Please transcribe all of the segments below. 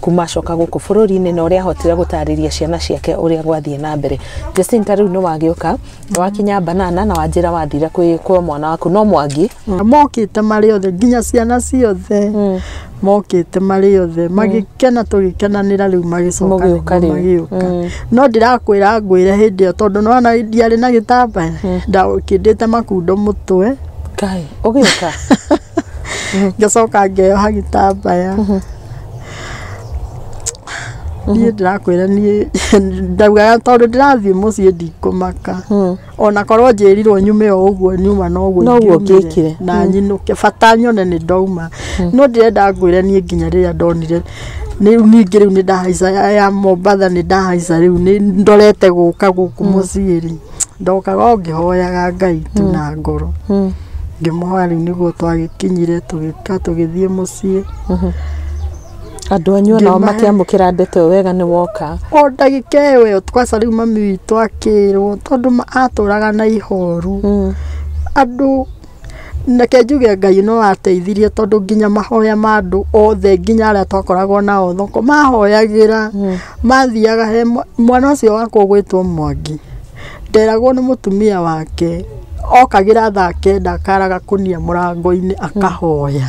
kuma acoka gũkũ bũrũri-inĩ na ũrĩa ahotire gũtarĩria ciana ciake ũrĩa gwathiĩ na mbere Jacinta rĩu nĩ wagĩũka wakinya banana na wanjĩra wathire kwĩ kwa mwana waku no mwangi mokĩte marĩ othe nginya ciana ciothe mokĩte marĩ othe magĩkena tũgĩkenanĩra rĩu magĩcoka Mũgĩũka nĩguo rĩu. magĩũka no ndĩrakwĩra ngwĩre hĩndĩ ĩyo tondũ nona ndiarĩ na gĩtambaya ndakĩndĩte makundo mũtwe Ngai, ũgĩũka ngacoka ngeyoha gĩtambaya niĩ ndĩrakwĩra niĩ ndaugaga tondũ ndĩrathiĩ mũciĩ ndikũmaka ona korwo njĩrirwo nyume o ũguo nyuma noguo Noguo ingĩumire ngĩkire. na nyinũke bata nyone nĩ ndauma no ndĩrenda ngwĩre niĩ nginya rĩrĩa ndonire nĩ rĩu ningĩ rĩu nĩ ndahaica ya- ya mombatha nĩ ndahaica rĩu nĩ ndorete gũka gũkũ mũciĩ rĩ Ndokaga o ngĩhoyaga Ngai tu na ngoro. Ngĩmũhoya rĩu nĩguo twagĩkinyire tũgĩka tũgĩthiĩ mũciĩ. Andũ anyu o nao Ngĩmahe- makĩamũkĩra ndeto ĩyo wega nĩ woka. O ndagĩka ĩyo ĩyo kwaca rĩu mami witũ akĩrwo tondũ ma- atũraga na ihoru. Andũ Reke njuge Ngai no ateithirie tondũ nginya mahoya ma andũ othe nginya arĩa twakoragwo nao thoko mahoyagĩra, mathiaga he mwana ũcio wakwa ũgwĩtwo Mwangi, nderagwo nĩ mũtumia wake okagĩra thaa kenda akara gakũnia mũrango-inĩ akahoya.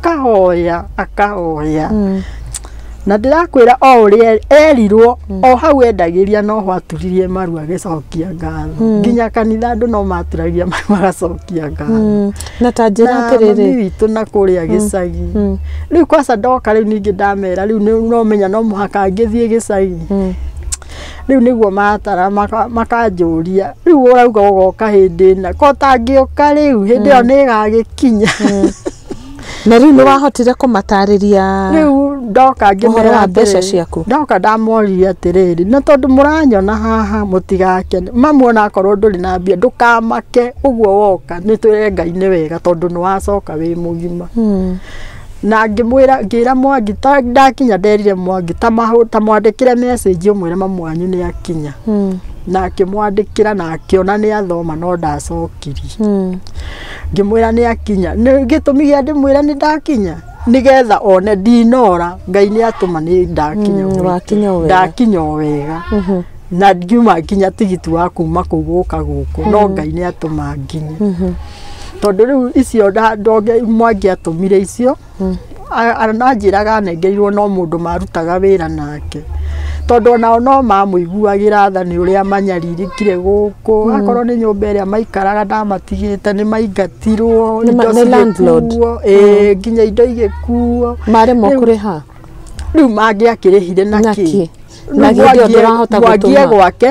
akahoya akahoya Mm. na ndĩrakwĩra o ũrĩa erirwo o hau endagĩria no ho aturirie maru agĩcokia ngatho nginya kanitha andũ no maturagia maru magacokia ngatho Mm. na ta njĩra na mami atĩrĩrĩ witũ na kũrĩa gĩcagi Mm. rĩu kwaca ndoka rĩu ningĩ ndamera rĩu nĩ- no menya no mũhaka ngĩthiĩ gĩcagi Mm. rĩu nĩguo matara maka- makanjũria rĩu ũrauga ũgoka hĩndĩ ĩna ko tangĩũka rĩu hĩndĩ ĩyo nĩ ĩgagĩkinya Na rĩu nĩ wahotire kũmatarĩria rĩu ndoka ũhoro ngĩmera wa mbeca atĩrĩrĩ, ciaku? ndoka ndamoria atĩrĩrĩ na tondũ mũranyona haha mũtigakene mamu ona akorwo ndũrĩ na mbia ndũkamake ũguo woka nĩ twĩre ngai nĩ wega tondũ nĩ wacoka wĩ mũgima Hmm. na ngĩmwĩra ngĩra mwangi ta ndakinya nderire mwangi ta mahũ- ta mwandĩkĩre message ũmwĩre mamu wanyu nĩ akinya Hmm. na akĩmwandĩkĩra na akĩona nĩ athoma no ndacokirie Hmm. Ngĩmwĩra nĩakinya. Nĩ gĩtũmi gĩa ndĩmwĩra nĩ ndakinya nĩgetha one ndinora Ngai nĩ atũma nĩ ndakinya Mm, wakinya o wega. ndakinya o wega na ngiuma nginya tigiti wa kuma kũu gũka gũkũ no Ngai nĩ atũma nginye tondũ rĩu icio nda- ndonge mwangi atũmire icio Anjĩraga anengerirwo no mũndũ marutaga wĩra nake, tondũ o nao no mamũiguagĩra tha nĩ ũrĩa manyarirĩkire gũkũ, akorwo nĩ nyũmba ĩrĩa maikaraga ndamatigĩte nĩ maingatirwo, indo cigĩkuo, ĩĩ nginya indo igĩkuo. Maremwo kũrĩha? Rĩu mangĩakĩrĩhire na kĩ? Na hĩndĩ ĩyo ndũrahota gũtũma? Mwangie gwake.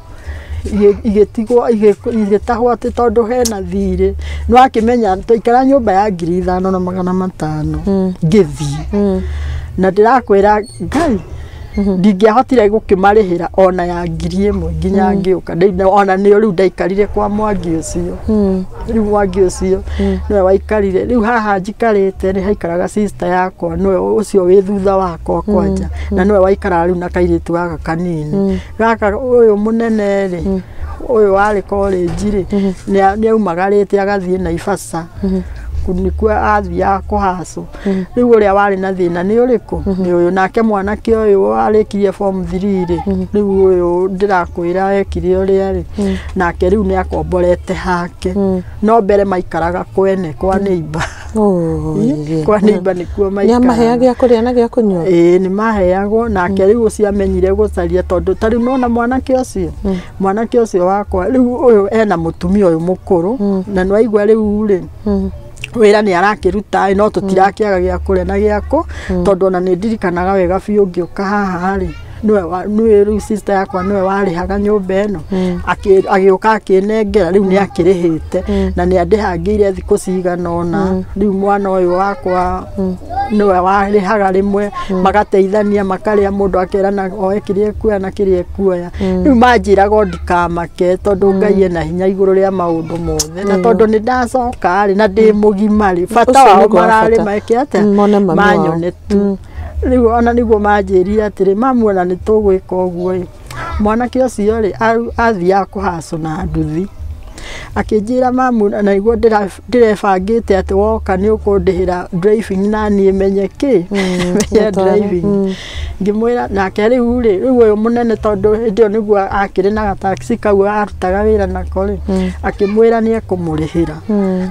igĩtigwo igĩtahwo atĩ tondũ hena thirĩ nĩ wakĩmenya twaikara nyũmba ya ngiri ithano na magana matano ngĩthiĩ na ndĩrakwĩra ngai ndingĩahotire gũkĩmarĩhĩra ona ya ngiri ĩmwe nginya ngĩũka ona nĩo rĩu ndaikarire kwa mwangi ũcio rĩu mwangi ũcio nĩwe waikarire rĩu haha njikarĩte nĩ haikaraga sister yakwa nĩwe ũcio wĩ thutha wakwa kwanja na nĩwe waikaraga rĩu na kairĩtu gaka kanini gaka ũyũ mũnene rĩ ũyũ warĩ korĩnji rĩ nĩa- nĩaumagarĩte agathiĩ naibaca nĩkuo athiaga kũhacwo rĩu ũrĩa warĩ na thĩna nĩ ũrĩkũ nĩ ũyũ nake mwanake ũyũ warĩkirie form three rĩ rĩu ũyũ ndĩrakwĩra ekire ũrĩa rĩ nake rĩu nĩakomborete hake no mbere maikaraga kwene kwa neighbor kwa nĩimba nĩkuo maikara nĩamaheaga gĩa kũrĩa na gĩa kũnyua ĩĩ nĩ maheagwo nake rĩu ũcio amenyire gũcaria tondũ ta rĩu nona mwanake ũcio mwanake ũcio wakwa rĩu ũyũ ena mũtumia ũyũ mũkũrũ na nĩ waigua rĩu rĩ wĩra nĩ arakĩruta ĩ no tũtirakĩaga gĩa kũrĩa na gĩa kũ tondũ ona nĩ ndirikanaga wega biũ ngĩũka haha rĩ nĩwe wa- nĩwe rĩu sister yakwa nĩwe warĩhaga nyũmba ĩno Akĩ- agĩũka akĩnengera rĩu nĩ akĩrĩhĩte na nĩ andĩhangĩire thikũ cigana ũna rĩu mwana ũyũ wakwa nĩwe warĩhaga rĩmwe magateithania makarĩa mũndũ akerana oe kĩrĩa ekuoya na kĩrĩa ekuoya rĩu manjĩraga o ndikamake tondũ ngai ena hinya igũrũ rĩa maũndũ mothe na tondũ nĩ ndacoka rĩ na ndĩ mũgima rĩ bata Ũcio wao nĩguo wa bata. mararĩ meke atĩa Mm, mone mami wao. manyone tu Rĩu o na nĩguo manjĩrire atĩrĩ, mamu o na nĩ tũgwĩka ũguo-ĩ, mwanake ũcio-rĩ, athiaga kũhacũ na nduthi. Akĩnjĩra mamu na nĩguo ndĩrebangĩte atĩ woka nĩ ũkũndĩhĩra driving na niĩ menye kĩ? menye driving. Ngĩmwĩra, nake rĩu-rĩ, rĩu ũyũ mũnene tondũ hĩndĩ ĩyo nĩguo akĩrĩ na ga taxi kau arutaga wĩra nako-rĩ, akĩmwĩra nĩ ekũmũrĩhĩra.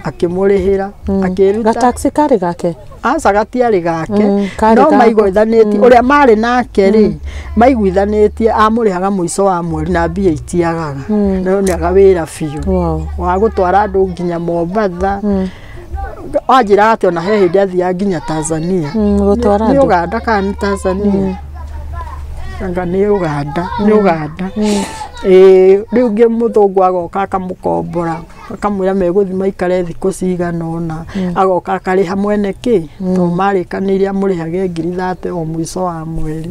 Akĩmũrĩhĩra, akĩĩruta. Ga taxi karĩ gake? aca gatiarĩ gake Mm, karĩ no gako. maiguithanĩtie ũrĩa marĩ nake rĩ maiguithanĩtie amũrĩhaga mũico wa mweri na mbia itiagaga Mm. no nĩaga wĩra biũ Wow. wa gũtwara andũ nginya Mombatha Mm. anjĩra atĩ ona he hĩndĩ athiaga nginya Tanzania Mm, gũtwara nĩ andũ. Uganda kana nĩ Tanzania anga nĩ Uganda nĩ Uganda ĩĩ rĩu ngĩ mũthũngũ agoka akamũkombora akamwĩra megũthiĩ maikare thikũ cigana ũna agoka akarĩha mwene kĩ to marĩkanĩire amũrĩhage ngiri thate o mũico wa mweri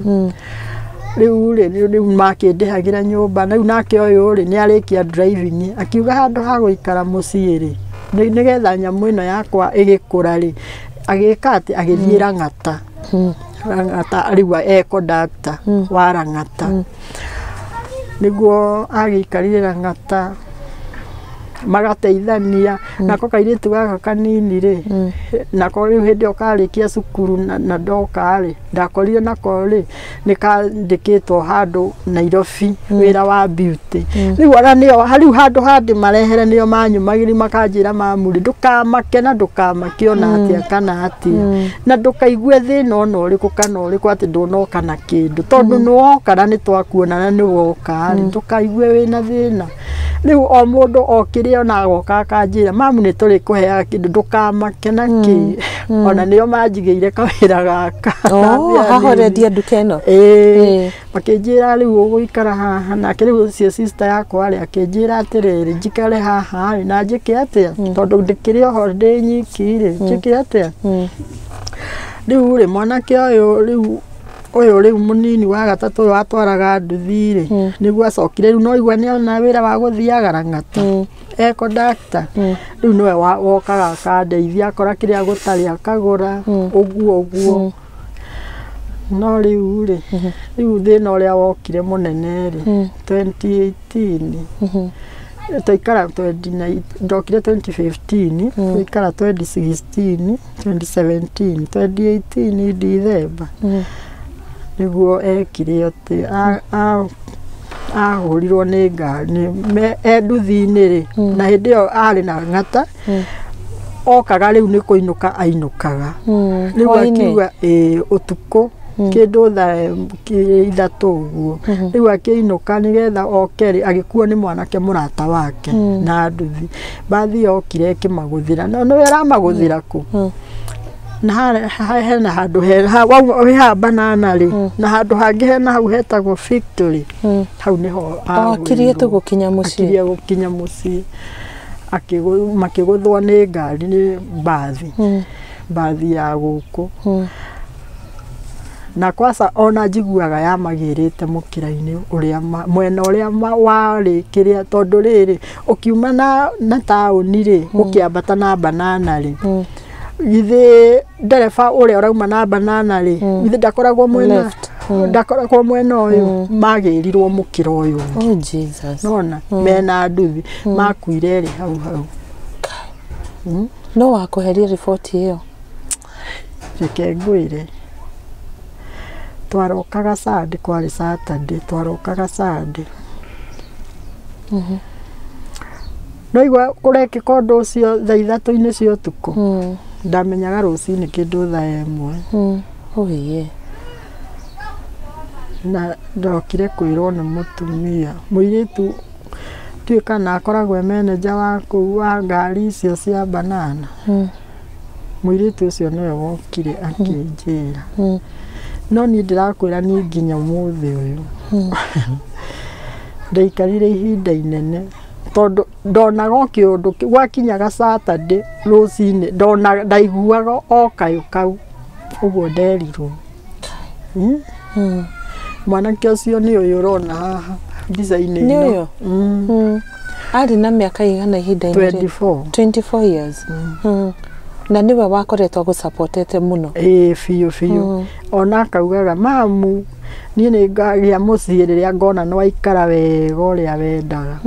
rĩu rĩ rĩu rĩu makĩndĩhagĩra nyũmba rĩu nake ũyũ rĩ nĩ arĩkia driving akiuga handũ ha gũikara mũciĩ rĩ nĩ- nĩgetha nyamũ ĩno yakwa ĩgĩkũra rĩ agĩka atĩ agĩthiĩ rang'ata rang'ata rĩu e kondakta wa rang'ata nĩguo agĩikarire rang'ata magateithania nako kairĩtu gaka kanini rĩ nako rĩu hĩndĩ ĩyo karĩkia cukuru na na ndoka rĩ ndakorire nako rĩ nĩ kandĩkĩtwo handũ Nairobi wĩra wa beauty rĩu ona nĩo rĩu handũ ha ndĩmarehere nĩo manyumagĩria makanjĩra mamuri ndũkamake na ndũkamake ona atĩa kana atĩa na ndũkaigue thĩna ona ũrĩkũ kana ũrĩkũ atĩ ndũnoka na kĩndũ tondũ nĩ woka na nĩ twakuona na nĩ woka rĩ ndũkaigue wĩna thĩna rĩu o mũndũ o kĩrĩa ona agoka akanjĩra mamu nĩ tũrĩ kũheaga kĩndũ ndũkamake na kĩ ona nĩo manjigĩire kawĩra gaka Oh, Ndambia nĩ- hahoreria nduka ĩno Ĩĩ. makĩnjĩra rĩu ũgũikara haha nake rĩu ũcio sister yakwa rĩ akĩnjĩra atĩrĩrĩ njikare haha rĩ na njĩke atĩa tondũ ndĩkĩrĩ oho ndĩ nyiki rĩ njĩke atĩa rĩu rĩ mwanake ũyũ rĩu ũyũ rĩu mũnini wa gatatũ ũyũ watwaraga nduthi rĩ nĩguo acokire rĩu no igua nĩ ona wĩra wa gũthiaga rang'ata e kondakta rĩu nĩwe wa- wokaga akandeithia akora kĩrĩa gũtarĩ akagũra ũguo ũguo no rĩu rĩ rĩu thĩna ũrĩa wokire mũnene rĩ 2018 twaikara 29 ndokire 2015 twaikara 2016 2017 2018 ndithemba nĩguo ekire atĩ a- a- ahũrirwo nĩ ngari nĩ- me- e nduthi-inĩ rĩ Mm. na hĩndĩ ĩyo arĩ na ng'ata Mm. okaga rĩu nĩ kũinũka ainũkaga Mm. rĩu Hwainĩ. akiuga ĩĩ ũtukũ Mm. kĩndũ tha kĩ- ithatũ ũguo Mhm. rĩu akĩinũka nĩgetha oke rĩ agĩkuo nĩ mwanake mũrata wake Mm. na nduthi mbathi yokire ĩkĩmagũthĩra no nĩwe ĩramagũthĩra kũ Mm. na harĩa- ha- hena handũ he- ha- wau- wĩ haha banana rĩ Mm. na handũ hangĩ hena hau hetagwo victory Mm. hau nĩho agũrirwo. akirie tu gukinya mucii akiria gũkinya mũciĩ Akĩgũ- makĩgũthwa nĩ ngari nĩ mbathi Mm. mbathi ya gũkũ Mm. na kwaca ona njiguaga yamagĩrĩte mũkĩra-inĩ ũrĩa ma- mwena ũrĩa ma- warĩ kĩrĩa tondũ rĩrĩ ũkiuma na, na taũni rĩ mm. ũkĩambata na banana rĩ mm. githĩ ndereba ũrĩa ũrauma na banana rĩ mm. githĩ ndakoragwo mwena mm. ndakoragwo mwena ũyũ mm. magĩrirwo mũkĩra ũyũ oh, Jesus. nona mm. mena nduthi mm. makuire rĩ hau hau mm. no wakũheria riboti ĩyo Reke ngwĩre, twarokaga Sunday, kwarĩ Saturday, twarokaga Sunday. Ndaigua kũrekĩka ũndũ ũcio thaa ithatũ-inĩ cia ũtukũ, ndamenyaga rũcinĩ kĩndũ thaa ĩmwe. Ũiye. Na ndokire kwĩrwo nĩ mũtumia, mũirĩtu ndiũĩ kana akoragwo e manager wa kũu wa ngari icio cia banana. Mũirĩtu ũcio nĩwe wokire akĩnjĩra. No niĩ ndĩrakwĩra niĩ nginya ũmũthĩ ũyũ ndaikarire ihinda inene tondũ ndonaga o kĩũndũ kĩu. Gwakinyaga Saturday rũcinĩ ndaiguaga o kayũ kau, ũguo nderirwo. mwanake ũcio nĩ ũyũ ũrona haha mbica-inĩ Nĩ ĩno. ũyũ? Mm, Mm. arĩ na mĩaka ĩigana ihinda-inĩ rĩrĩ? 24 24 years Mm. na nĩwe wakoretwo agũsapotete mũno ĩĩ biũ biũ ona akaugaga mamu niĩ nĩ ngagĩa mũciĩ rĩrĩa ngona nĩ waikara wega ũrĩa wendaga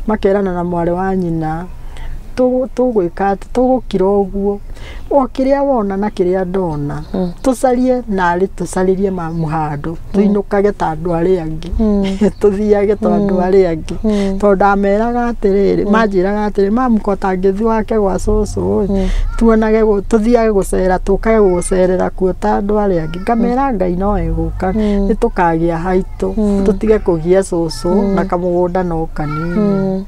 makerana na mwarĩ wa nyina tũgwĩka atĩ tũgũkira ũguo o kĩrĩa wona na kĩrĩa ndona tũcarie narĩ tũcarĩrie mamu handũ tũinũkage ta andũ arĩa angĩ tũthiage ta andũ arĩa angĩ tondũ ndameraga atĩrĩrĩ manjĩraga atĩrĩrĩ mamu ko tangĩthiĩ wake gwa cũcũ ĩ tuonage tũthiage gũcera tũkage gũcerera kuo ta andũ arĩa angĩ ngamera Ngai no egũka nĩ tũkagĩa haitũ tũtige kũgia cũcũ na kamũgũnda no kanini.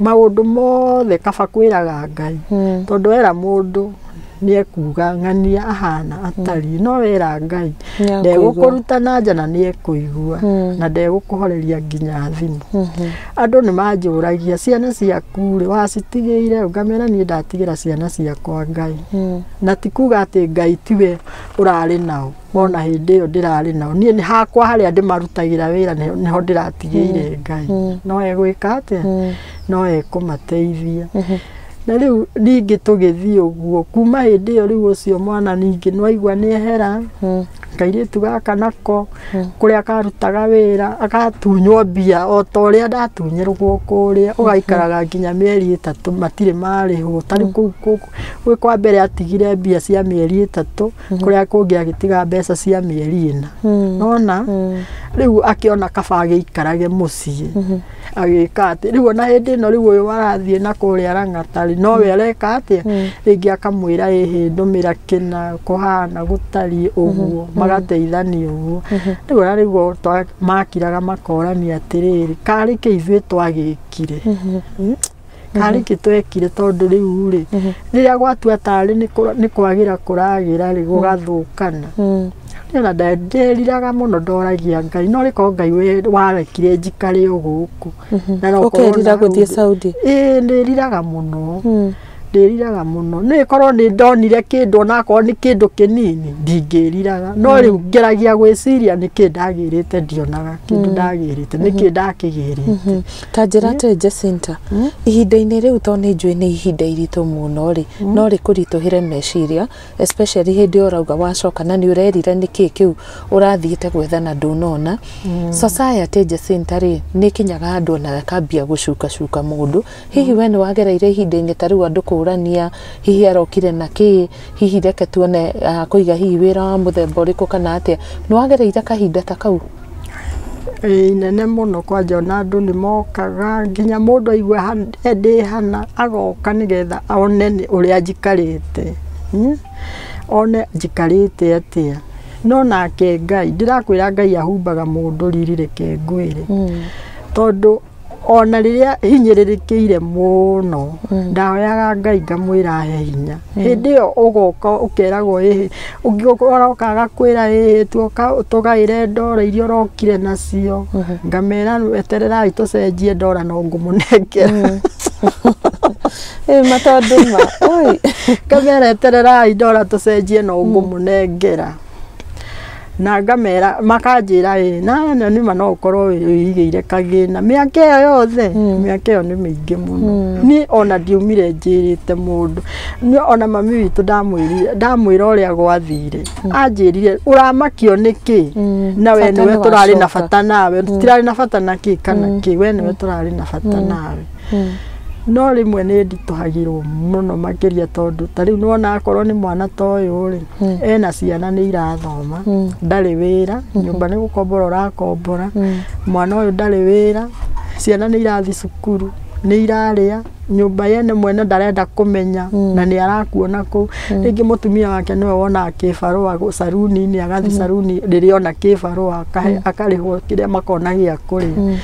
maũndũ mothe kaba kwĩraga Ngai mm. tondũ era mũndũ nĩ ekuga ng'ania ahana atariĩ mm. no wera Ngai ndegũkũruta na nja na nĩ ekũigua mm. na ndegũkũhoreria nginya thimũ mm-hmm. andũ nĩ manjũragia ciana ciaku rĩ wacitigĩire ũngamera niĩ ndatigĩra ciana ciakwa Ngai mm. na ti kuga atĩ Ngai tiwe ũrarĩ nao wona hĩndĩ ĩyo ndĩrarĩ nao niĩ nĩ hakwa harĩa ndĩmarutagĩra wĩra nĩ- nĩho ndĩratigĩire ngai no egwĩka atĩa no ekũmateithia na rĩu ningĩ tũgĩthiĩ ũguo kuma hĩndĩ ĩyo rĩu ũcio mwana ningĩ nwaigua nĩ ehera kairĩtu gaka nako kũrĩa karutaga wĩra agatunywo mbia o ta ũrĩa ndatunyĩrwo kũrĩa ũgaikaraga nginya mĩeri ĩtatũ matirĩ marĩhwo tarĩ kũu kũu- gwĩ kwa mbere atigire mbia cia mĩeri ĩtatũ kũrĩa kũngĩ agĩtiga mbeca cia mĩeri ĩna nona rĩu akĩona kaba agĩikarage mũciĩ agĩka atĩ rĩu ona hĩndĩ ĩno rĩu ũyũ arathiĩ na kũrĩa rang'atarĩ nowe areka atĩa rĩngĩ akamwĩra ĩhĩ ndũmĩra kĩna kũhana gũtariĩ ũguo magateithania ũguo rĩu ona rĩu o twa- makiraga makorania atĩrĩrĩ karĩ kĩ ithuĩ twagĩkire harĩ kĩ twekire tondũ rĩu rĩ rĩrĩa gwatua tarĩ nĩ kũra- nĩ kwagĩra kũragĩra rĩ gũgathũkana Mm. na nderiraga mũno ndoragia ngai no rĩkorwo ngai we- warekire njikare o gũkũ Na no korwo Ũkerira na gũthiĩ ũndũ- Saudi? ĩĩ ndĩriraga mũno Mm. ndĩriraga mũno nĩ korwo nĩ ndonire kĩndũ onakorwo nĩ kĩndũ kĩnini ndingĩriraga no rĩu ngeragia gwĩciria nĩkĩ ndagĩrĩte ndionaga kĩndũ ndagĩrĩte nĩkĩ ndakĩgĩrĩte ta njĩra hmm? atĩ Jacinta hmm? ihinda-inĩ rĩu to nĩ njũĩ nĩ ihinda iritũ mũno rĩ hmm? no rĩ kũritũhĩre meciria especially hĩndĩ ũrauga wacoka na nĩ ũrerira nĩ kĩĩ kĩu ũrathiĩte gwethana ndũnona society Jacinta rĩ nĩ kinyaga andũ ona akambia gũcuka cuka mũndũ hihi we nĩ wagereire ihinda-inĩ ta rĩu andũ kũrania hihi arokire na kĩĩ Hihi reke tuone ah, kũiga hihi wĩra wa mũthemba ũrĩkũ kana atĩa. Nĩ wagereire kahinda ta kau? Ĩĩ, inene mũno kwanja ona andũ nĩ mokaga nginya mũndũ aigua ha- e- ndĩ hana agoka nĩgetha one nĩ- ũrĩa njikarĩte Hmm? one njikarĩte atĩa no nake ngai ndĩrakwĩra ngai ahumbaga mũndũ riri reke ngwĩre tondũ ona rĩrĩa hinyĩrĩrĩkĩire mũno ndahoyaga ngai ngamwĩra he hinya hĩndĩ ĩyo ũgoka ũkeragwo ĩhĩ ũngĩũka ũroka agakwĩra ĩhĩ tuoka ũtũgaĩre ndora iria ũrokire nacio ngamera etererai tũcenjie ndora no ngũmũnengera Ĩĩ, ma tondũ ma. Oi. ngamera etererai ndora tũcenjie no ngũmũnengera na ngamera makanjĩra ĩ na na nĩma no ũkorwo wĩ- wĩigĩire kagĩna mĩaka ĩyo yothe mĩaka ĩyo nĩ mĩingĩ mũno niĩ ona ndiumire njĩrĩte mũndũ Niĩ ona mami witũ ndamwĩrire ndamwĩra ũrĩa gwathire anjĩrire ũramakio nĩkĩ na we Bata nĩwe tũrarĩ na nĩwacoka. bata nawe tũtirarĩ na bata na kĩ kana kĩ we nĩwe tũrarĩ na bata nawe no rĩmwe nĩ nditũhagĩrwo mũno makĩria tondũ ta rĩu nĩwona akorwo nĩ mwana ta ũyũ rĩ ena ciana nĩ irathoma ndarĩ wĩra nyũmba nĩ gũkombora ũrakombora mwana ũyũ ndarĩ wĩra ciana nĩ irathiĩ cukuru nĩ irarĩa nyũmba yene mwene ndarenda kũmenya na nĩ arakuona kũu rĩngĩ mũtumia wake nĩwe wonaga kĩbarũa caruni-inĩ agathiĩ caruni rĩrĩa ona kĩbarũa akarĩhwo kĩrĩa makona gĩa kũrĩa.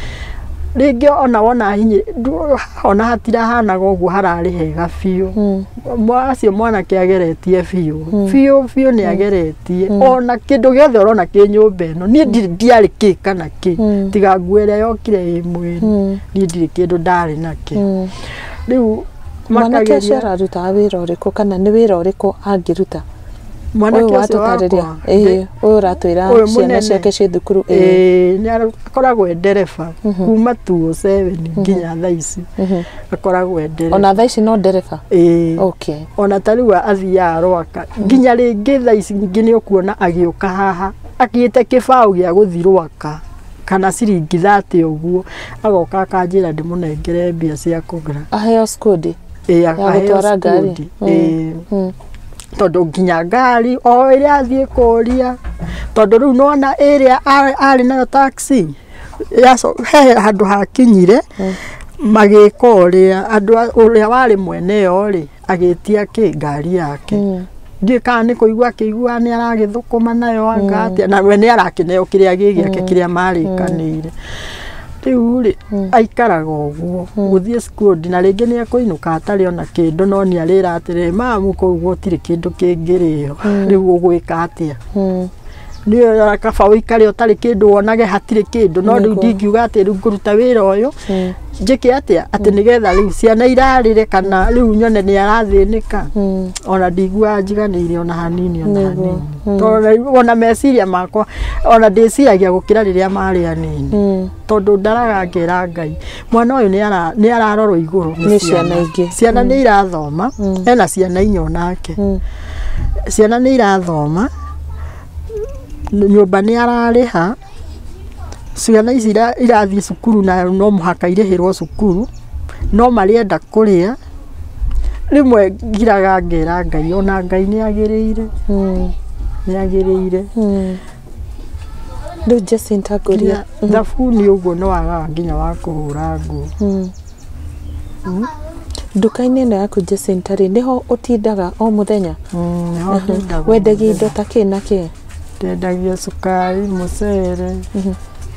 rĩngĩ ona wona hihi ndũ- ona hatirahanaga ũguo hararĩ hega biũ Mwa- acio mwanake ageretie biũ biũ biũ nĩ ageretie ona kĩndũ gĩothe ũrona kĩ nyũmba ĩno niĩ ndirĩ ndiarĩ kĩ kana kĩ Mm. tiga nguo ĩrĩa yokire ĩ mwĩrĩ Mm. niĩ ndirĩ kĩndũ ndarĩ nakĩ Mm. rĩu mwanake ũcio makageria ararutaga wĩra ũrĩkũ kana nĩ wĩra ũrĩkũ angĩruta mwanake ũyũ ũcio wakwa watũtarĩria ĩĩ ndĩ- ũyũ ũratwĩra ũyũ ciana mũnene. ciake ciĩ thukuru ĩĩ Ĩĩ, nĩ ara- akoragwo e ndereba kuma tuo seveni nginya thaa ici akoragwo e ndereba ona thaa ici no ndereba Ĩĩ. okay ona ta rĩu athiaga rwaka nginya rĩngĩ thaa ici ingĩ nĩ ũkuona agĩũka haha agĩte kĩbaũ gĩa gũthi rwaka kana ciringi thate ũguo agoka akanjĩra ndĩmũnengere mbia cia kũgũra aheo skundi ĩĩ akaheo gũtwara ngari. skundi. Ĩĩ. Mm. tondũ nginya ngari o ĩrĩa athiĩ kũria tondũ rĩu nĩwona ĩrĩa a- arĩ nayo taxi yaco- he handũ hakinyire magĩka ũrĩa andũ a- ũrĩa warĩ mwene yo rĩ agĩtia kĩ ngari yake ndiĩ kana nĩ kũigua akĩiguaga nĩ aragĩthũkũma nayo anga atĩa na we nĩ arakĩneo kĩrĩa gĩ gĩake kĩrĩa marĩkanĩire Rĩu rĩ, aikaraga ũguo gũthiĩ cukuru na rĩngĩ nĩ ekũinũka atarĩ ona kĩndũ no nĩ arĩra atĩrĩ mamu kũu gũtirĩ kĩndũ kĩngĩrĩo rĩu ũgwĩka atĩa nĩ ũyũ kaba ũikare ũtarĩ kĩndũ wonage hatirĩ kĩndũ no rĩu ndingiuga atĩ rĩu ngũruta wĩra ũyũ njĩke atĩa atĩ nĩgetha rĩu ciana irarĩre kana rĩu nyone nĩ arathĩnĩka ona ndiguaga njiganĩire ona hanini ona hanini. tondũ naigua- ona meciria makwa ona ndĩciragia gũkĩra rĩrĩa marĩ anini Mm. tondũ ndaraga ngera ngai mwana ũyũ nĩ ara- nĩ ararorwo igũrũ Nĩ ciana ingĩ. ciana nĩ irathoma Mm. ena ciana inya onake Mm. ciana nĩ irathoma n- nyũmba nĩ ararĩha ciana ici ira- irathiĩ cukuru na no mũhaka irĩhĩrwo cukuru no marĩenda kũrĩa Rĩmwe ngiraga ngera Ngai ona Ngai nĩ agĩrĩire, nĩ agĩrĩire. Rĩu Jacinta ngũria, thabuni ũguo nĩ wagaga nginya wa kũhũra nguo. Nduka-inĩ ĩno yaku Jacinta rĩ, nĩho ũtindaga o mũthenya? Nĩho ndĩndaga. Wendagia indo ta kĩ na kĩ? Ndendagia cukari, mũcere.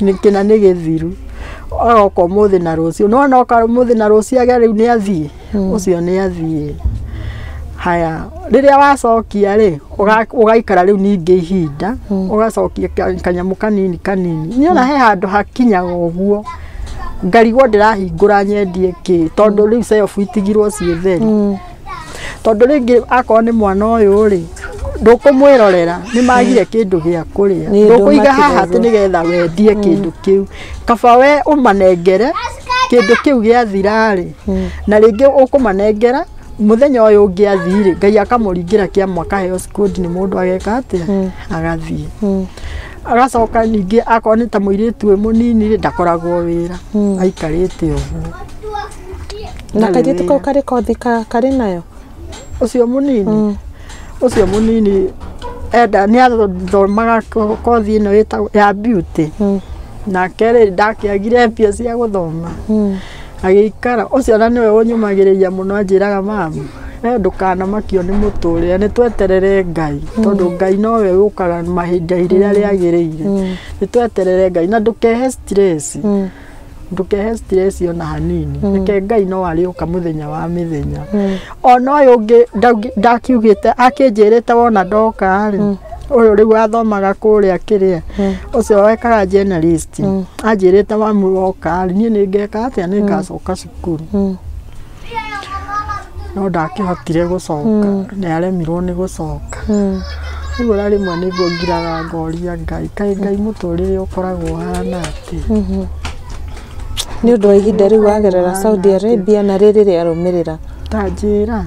Nĩ kĩna nĩ gĩthiru, aroka ũmũthĩ na rũciũ, nĩ wona oka ũmũthĩ na rũciũ age rĩu nĩ athiĩ? Ũcio nĩ athiĩ. Haya, rĩrĩa wacokia rĩ, ũga- ũgaikara rĩu ningĩ ihinda, ũgacokia ka- kanyamũ kanini kanini. Nĩ wona he handũ hakinyaga ũguo, ngarigwo ndĩrahingũra nyendie kĩ, tondũ rĩu celf itigirwo ciĩ theri. tondũ rĩngĩ akorwo nĩ mwana ũyũ rĩ ndũkũmwĩrorera nĩ magire kĩndũ gĩa kũrĩa Nĩ ndũkũiga haha atĩ ndũmatigagwo. nĩgetha wendie kĩndũ kĩu kaba we ũmanengere kĩndũ kĩu gĩathirarĩ na rĩngĩ ũkũmanengera mũthenya ũyũ ũngĩ athirĩ ngai akamũringĩra kĩama akaheo cikundi nĩ mũndũ ageka atĩa agathiĩ Mm. agacoka ningĩ akorwo nĩ ta mũirĩtu wĩ mũnini rĩ ndakoragwo wĩra aikarĩte ũguo na kairĩtu kau karĩ kothi ka- karĩ nayo ũcio mũnini ũcio mũnini enda nĩ athomaga ko- kothi ĩno ĩtagwo ya beauty nake rĩ ndakĩagire mbia cia gũthoma agĩikara ũcio na nĩwe ũnyumagĩrĩria mũno anjĩraga mama we ndũkanamakio nĩ mũtũrĩre nĩ tweterere ngai tondũ ngai nowe ũkaga mahinda rĩrĩa rĩagĩrĩire nĩ tweterere ngai na ndũkehe stress ndũkehe stress ona hanini reke ngai no arĩũka mũthenya wa mĩthenya ona ũyũ ũngĩ ndaugi- ndakiugĩte akĩnjĩrĩte wona ndoka rĩ ũyũ rĩu athomaga kũrĩa kĩrĩa ũcio wekaga journalist anjĩrĩte mamu woka rĩ niĩ nĩngeka atĩa nĩngacoka cukuru no ndakĩhotire gũcoka nĩ aremirwo nĩ gũcoka rĩu ona rĩmwe nĩguo ngiraga ngoria ngai kaĩ ngai mũtũrĩre ũkoragwo ũhana atĩ nĩ ũndũ wa ihinda rĩu wagerera saudi arabia na rĩrĩ rĩarũmĩrĩra tanjĩra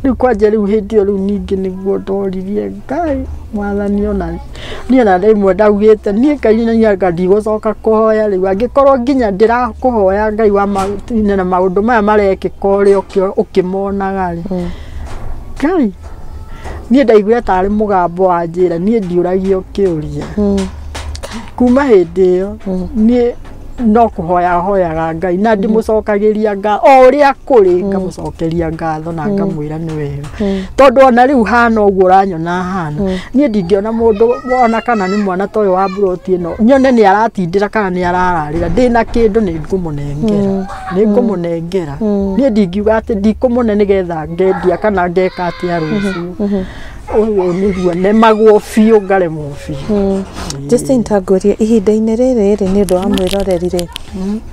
rĩu kwanja rĩu hĩndĩ ĩyo rĩu ningĩ nĩguo ndoririe ngai mwathani ona niĩ na rĩmwe ndaugĩte niĩ ngai nĩ anga ndigũcoka kũhoya rĩu angĩkorwo nginya ndĩrakũhoya ngai wa matine na maũndũ maya marekĩka ũrĩ ũkĩ- ũkĩmonaga rĩ ngai niĩ ndaiguire tarĩ mũgambo wa njĩra niĩ ndiũragio kĩũria kuma hĩndĩ ĩyo niĩ no kũhoya hoyaga ngai na ndĩmũcokagĩria nga o ũrĩa kũrĩ ngamũcokeria ngatho na ngamwĩra nĩ wega tondũ ona rĩu hana ũguo ũranyona hana niĩ ndingĩona mũndũ ona kana nĩ mwana ta ũyũ wa mburoti ĩno nyone nĩ aratindĩra kana nĩ arararĩra ndĩna kĩndũ nĩ ngũmũnengera nĩ ngũmũnengera niĩ ndingiuga atĩ ndikũmũne nĩgetha ngendia kana ngeka atĩa rũciũ ũguo nĩguo nemagwo biũ ngaremwo biũ Justin Tangũrie, ihinda-inĩ rĩrĩ rĩ nĩ ũndũ wa mwĩroreri rĩ,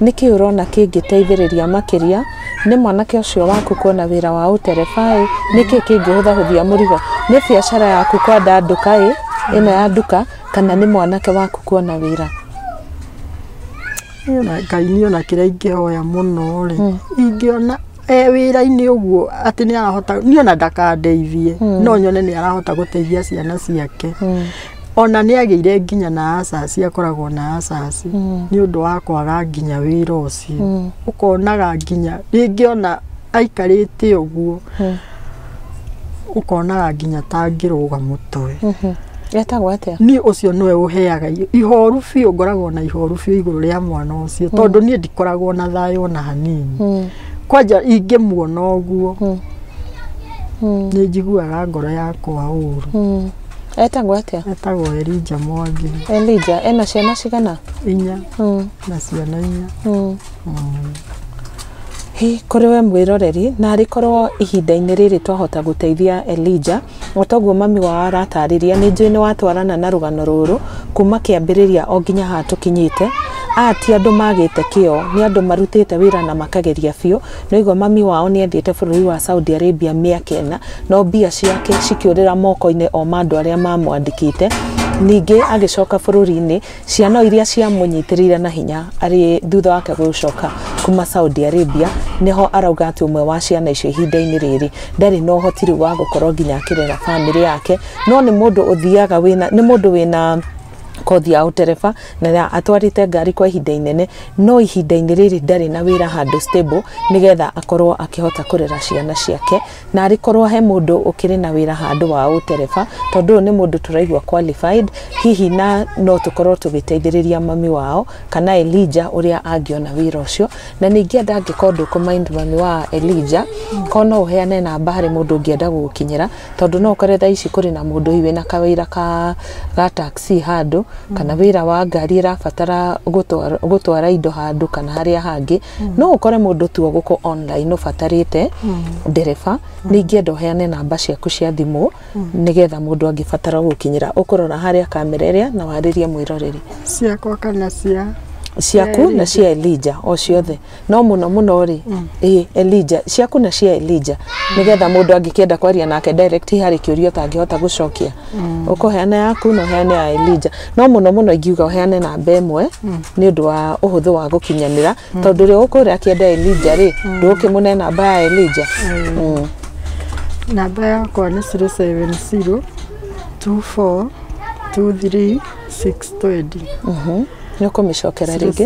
nĩ kĩĩ ũrona kĩngĩteithĩrĩria makĩria nĩ mwanake ũcio waku kuona wĩra wa ũterebaĩ? Nĩ kĩĩ kĩngĩhũthahũthia mũrigo? Nĩ biacara yaku kwandandũka ĩ, ĩno ya nduka, kana nĩ mwanake waku kuona wĩra? Niĩ ona ngai niĩ ona kĩrĩa ingĩhoya mũno rĩ ingĩona e wĩra-inĩ ũguo atĩ nĩ arahota niĩ ona ndakandeithie no nyone nĩ arahota gũteithia ciana ciake ona nĩ agĩire nginya na acaci akoragwo na acaci nĩ ũndũ wa kwaga nginya wĩra ũcio ũkonaga nginya rĩngĩ ona aikarĩte ũguo ũkonaga nginya ta ngĩrũga mũtwe etagwo atĩa niĩ ũcio nĩwe ũheaga i- ihoru biũ ngoragwo na ihoru biũ igũrũ rĩa mwana ũcio tondũ niĩ ndikoragwo na thayũ ona hanini Mm, kwanja ingĩmuona ũguo mm, mm, nĩ njiguaga ngoro yakwa ũru mm. etagwo atĩa etagwo Elija Mwangi elija ena ciana cigana inya Mm, na ciana inya mm. Hĩ, kũrĩ we mwĩroreri, narĩ korwo ihinda-inĩ rĩrĩ twahota gũteithia Elija, o toguo mami wao aratarĩria, nĩ njũĩ nĩ watwarana na rũgano rũrũ, kuma kĩambĩrĩria o nginya haha tũkinyĩte, aya ti andũ magĩte kĩo, nĩ andũ marutĩte wĩra na makageria biũ, nĩ aigua mami wao nĩ athiĩte bũrũri wa Saudi Arabia mĩaka ĩna, no mbia ciake cikĩũrĩra moko-inĩ o ma andũ arĩa mamwandĩkĩte, ningĩ agĩcoka bũrũri-inĩ, Ciana iria ciamũnyitĩrĩire na hinya arĩ thutha wake gũcoka kuma Saudi Arabia, nĩho arauga atĩ ũmwe wa ciana icio ihinda-inĩ rĩrĩ ndarĩ na ũhoti rĩu wa gũkorwo nginya akĩrera bamĩrĩ yake, no nĩ mũndũ ũthiaga wĩna, nĩ mũndũ wĩna kothi ya ũtereba na atwarĩte ngari kwa ihinda inene no ihinda-inĩ rĩrĩ ndarĩ na wĩra handũ stable nĩgetha akorwo akĩhota kũrera ciana ciake. Narĩ korwo he mũndũ ũkĩrĩ na wĩra handũ wa ũtereba, tondũ ũyũ nĩ mũndũ tũraigua qualified, hihi na no tũkorwo tũgĩteithĩrĩria mami wao, kana Elijah ũrĩa angĩona wĩra ũcio. Na nĩ ingĩenda angĩkorwo ndũkũ mind mami wa Elijah, korwo no ũheane namba harĩ mũndũ ũngĩenda gũgũkinyĩra, tondũ no ũkore thaa ici kũrĩ na mũndũ hihi wĩna kawĩra ka ga taxi handũ, kana wĩra wa ngari ĩrabatara gũtwara indo handũ kana harĩa hangĩ. no ũkore mũndũ tu ũgũkũ online ũbatarĩte ndereba nĩ ingĩenda ũheane namba ciaku cia thimũ nĩgetha mũndũ angĩbatara gũkinyĩra ũkũrora harĩa kamera ĩrĩa na warĩrie mwĩroreri ciakwa kana cia ciaku na cia Elija o ciothe no mũno mũno rĩ ĩ Elija ciaku na cia Elija nĩgetha mũndũ angĩkĩenda kwaria nake direct harĩ kĩũria ũtangĩhota gũcokia ũkũheana yaku na ũheane ya Elija no mũno mũno ingiuga ũheane namba ĩmwe nĩ ũndũ wa ũhũthũ wa gũkinyanĩra tondũ rĩo ũkũrĩa akĩenda Elija rĩ ndũkĩmũne namba ya Elija Mm. namba yakwa nĩ 070 24 23 620 nĩ ũkũmĩcokera rĩngĩ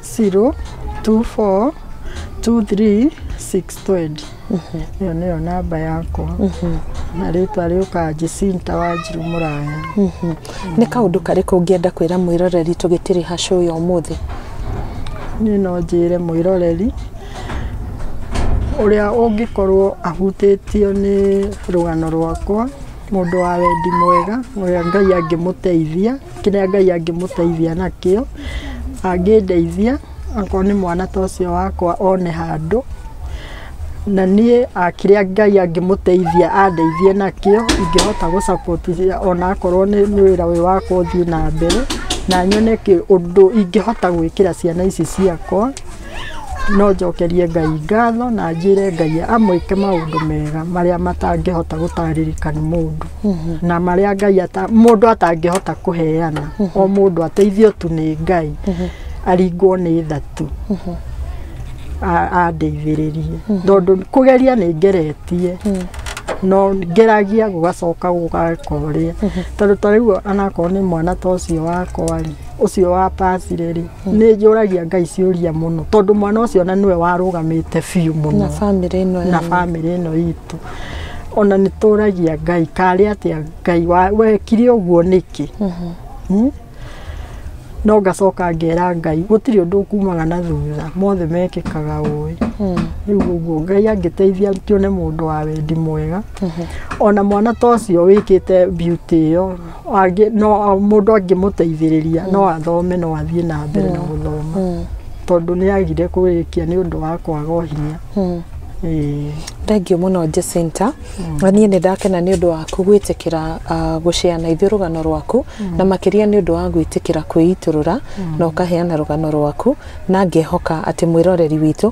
Zero, two, four, two, three, six, twenty. Ĩyo nĩyo namba yakwa. Na rĩtwa rĩũkaga Jacinta Wanjiru Mũraya. nä kaå karä kå ngä enda kwä ra mwä roreri tå gä tä rä hacå å yå må thä Niĩ no njĩre mwĩroreri ũrĩa ũngĩkorwo ahutĩtio nĩ rũgano rwakwa, mũndũ wa wendi mwega, ũrĩa Ngai angĩmũteithia kĩrĩa Ngai angĩmũteithia nakĩo, angĩndeithia akorwo nĩ mwana ta ũcio wakwa one handũ, na niĩ kĩrĩa Ngai angĩmũteithia andeithie nakĩo ingĩhota gũ support ona akorwo nĩ wĩra ũyũ wakwa ũthiĩ na mbere, na nyone ũndũ ingĩhota gwĩkĩra ciana ici ciakwa. No njokerie Ngai ngatho na njĩre Ngai amwĩke maũndũ mega marĩa matangĩhota gũtarĩrĩka nĩ mũndũ na marĩa Ngai ata, mũndũ atangĩhota kũheana o mũndũ ateithio tu nĩ Ngai aringwo nĩ tha tu a- andeithĩrĩrie tondũ kũgeria nĩ ngeretie no ngeragia gũgacoka gũgakorĩa tondũ ta rĩu anakorwo nĩ mwana ta ũcio wakwa rĩ ũcio wa pasire rĩ nä njå ragia ngai ciå ria må no tondå mwana å cio ona nä we warå gamä te biå må na no bamĩrĩ ĩno na yanyu. bamĩrĩ ĩno itũ ona nĩ tũragia ngai karĩ atĩa ngai wa- wekire ũguo nĩkĩ Hmm? no ngacoka ngera ngai gũtirĩ ũndũ ũkumaga na thutha mothe mekĩkaga ũĩ rĩu ũguo ngai angĩteithia tuone mũndũ wa wendi mwega ona mwana ta ũcio wĩkĩte beauty ĩyo Angĩ- no mũndũ angĩmũteithĩrĩria no athome no athiĩ na mbere na gũthoma Mm. tondũ nĩ agire kũrĩkia nĩ ũndũ wa kwaga ũhinya Mm. Ĩĩ. thengiũ mũno Jacinta na niĩ nĩ ndakena nĩ ũndũ waku gwĩtĩkĩra ah, gũcea na ithuĩ rũgano rwaku na makĩria nĩ ũndũ wa gwĩtĩkĩra kwĩitũrũra na ũkaheana rũgano rwaku na ngehoka atĩ mwĩroreri witũ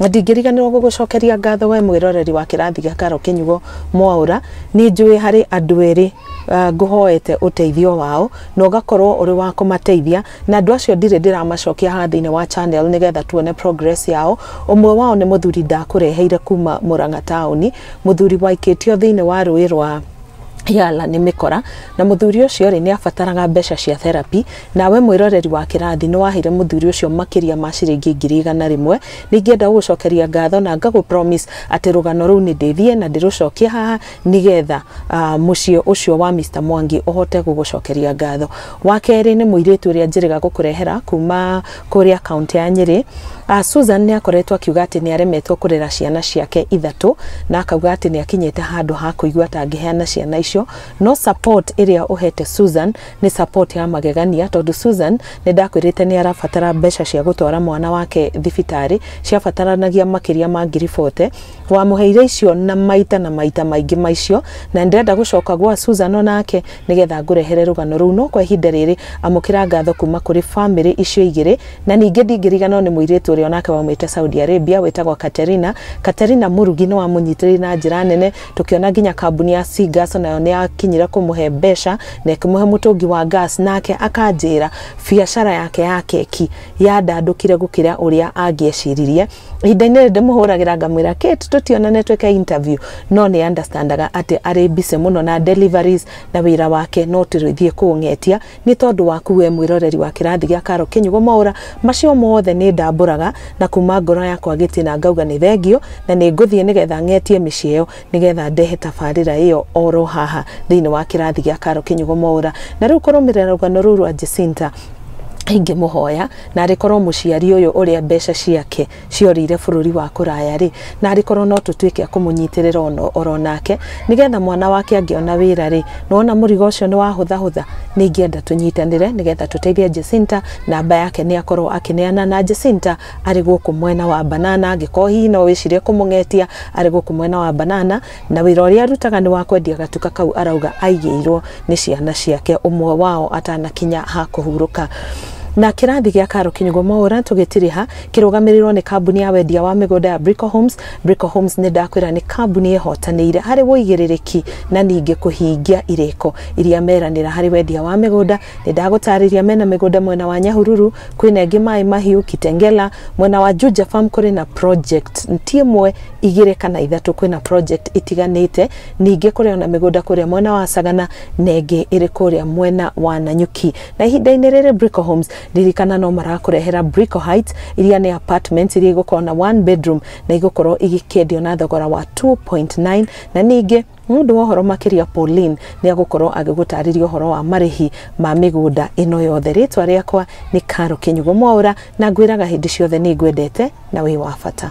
Ndingĩriganĩrwo gũgũcokeria ngatho we mwĩroreri wa kĩrathi gĩa Karo Kĩnyugo Mwaũra. Nĩ njũĩ harĩ andũ erĩ ah, ngũhoete ũteithio wao na ũgakorwo ũrĩ wa kũmateithia, na andũ acio ndirĩ ndĩramacokia haha thĩinĩ wa channel nĩgetha tuone progress yao. Ũmwe wao nĩ mũthuri ndakũreheire kuma Mũrang'a taũni, mũthuri waikĩtio thĩinĩ wa rũĩ rwa Yala nĩ mĩkora, na mũthuri ũcio rĩ nĩ abataraga mbeca cia therapy. Nawe mwĩroreri wa kĩrathi, nĩ waheire mũthuri ũcio makĩria ma ciringi ngiri igana rĩmwe. Nĩ ingĩenda gũgũcokeria ngatho na ngagũ promise atĩ rũgano rũu nĩ ndĩthiĩ na ndĩrũcokie haha nĩ getha mũciĩ ũcio wa Mister Mwangi ũhote gũgũcokeria ngatho. Wa kerĩ nĩ mũirĩtu ũrĩa njĩrĩga gũkũrehera kuma kũrĩa kaũntĩ ya Nyĩrĩ. Susan nĩ akoretwo akiuga atĩ nĩ aremetwo kũrera ciana ciake ithatũ na akauga atĩ nĩ akinyĩte handũ ha kũigua ta angĩheana ciana icio. No support ĩrĩa ũhete Susan Nĩ support ya magegania tondũ Susan nĩndakwĩrĩte nĩarabatara mbeca cia gũtwara mwana wake thibitarĩ ciabataranagia makĩria ma ngiri bote. Wamũheire icio na maita na maita maingĩ maicio na nĩndĩrenda gũcoka gwa Susan onake nĩgetha ngũrehere rũgano rũu no kwa ihinda rĩrĩ amũkĩra ngatho kuma kũrĩ famĩlĩ icio igĩrĩ na ningĩ ndingĩriganĩrwo nĩ mũirĩtu ũrĩa onake waumĩte Saudi Arabia wĩtagwo Katerina. Katerina Mũrugi nĩwamũnyitĩrĩire na njĩra nene. tũkĩona nginya kambuni ya Sigas nayo nĩ yakinyire kũmũhe mbeca na ĩkĩmũhe mũtũngi wa gas nake akanjĩra biacara yake ya keki yandandũkire gũkĩra ũrĩa angĩeciririe ihinda-inĩ rĩrĩ ndĩmũhũragĩra ngamwĩra Kate tũtionane twĩke interview no nĩ understandaga atĩ arĩ busy mũno na deliveries na wĩra wake no tũrĩthiĩ kũng'etia Nĩ tondũ waku wee mwĩroreri wa kĩrathi gĩa Carol Kĩnyugo Mwaũra, macio mothe nĩ ndambũraga na kuuma ngoro yakwa gĩtina ngauga nĩ thengio na nĩ ngũthiĩ nĩ getha ng'etie mĩciĩ ĩyo nĩ getha ndehe tabarĩra ĩyo o ro haha thĩinĩ wa kĩrathi gĩa Carol Kĩnyugo Mwaũra. Na rĩu kũrũmĩrĩra rũgano rũu rwa Jacinta, ingĩmũhoya narĩ korwo mũciari ũyũ ũrĩa mbeca ciake ciorĩire bũrũri wa kũraya rĩ, na arĩ korwo no tũtuĩke akũmũnyitĩrĩra ono oro nake, nĩgetha mwana wake angĩona wĩra rĩ, nĩwona mũrigo ũcio nĩ wahũthahũtha, nĩ ingĩenda tũnyitanĩre nĩgetha tũteithie Jacinta, namba yake nĩ akorwo akĩneana na Jacinta arĩ gũkũ mwena wa Banana, angĩkorwo hihi no wĩcirie kũmũng'etia arĩ gũkũ mwena wa Banana, na wĩra ũrĩa arutaga nĩ wa kwendia gatuka kau arauga aigĩirwo nĩ ciana ciake ũmwe wao atanakinya ha kũhurũka na kĩrathi gĩa karo kinyugo maũra tũgĩtiriha kĩrũgamĩrĩrwo nĩ kambuni ya wendia wa mĩgũnda ya Brico Homes Brico Homes nĩ ndakwĩra nĩ kambuni ĩhotanĩire harĩ wũigĩrĩrĩki na ningĩ kũhingia irĩko iria meranĩra harĩ wendia wa mĩgũnda nĩ ndagũtarĩria mena mĩgũnda mwena wa Nyahururu kwĩna ĩngĩ maĩ mahiũ Kitengela mwena wa Juja Farm kũrĩ na project ti ĩmwe igĩrĩ kana ithatũ kwĩna project itiganĩte ningĩ kũrĩ ona mĩgũnda kũrĩa mwena wa Sagana na ĩngĩ ĩrĩ kũrĩa mwena wa Nanyuki na ihinda-inĩ rĩrĩ Brico Homes ririkana no marakũrehera Brico Heights iria nĩ apartments iria igũkorwo na one bedroom na igũkorwo igĩkĩendio na thogora wa 2.9 na ningĩ nĩ ũndũ wa ũhoro makĩria Pauline nĩ agũkorwo agĩgũtarĩria ũhoro wa marĩhi ma mĩgũnda ĩno yothe rĩtwa rĩakwa nĩ Karo Kĩnyugo Mwaũra na ngwĩraga hĩndĩ ciothe nĩ ngwendete na wĩ wa bata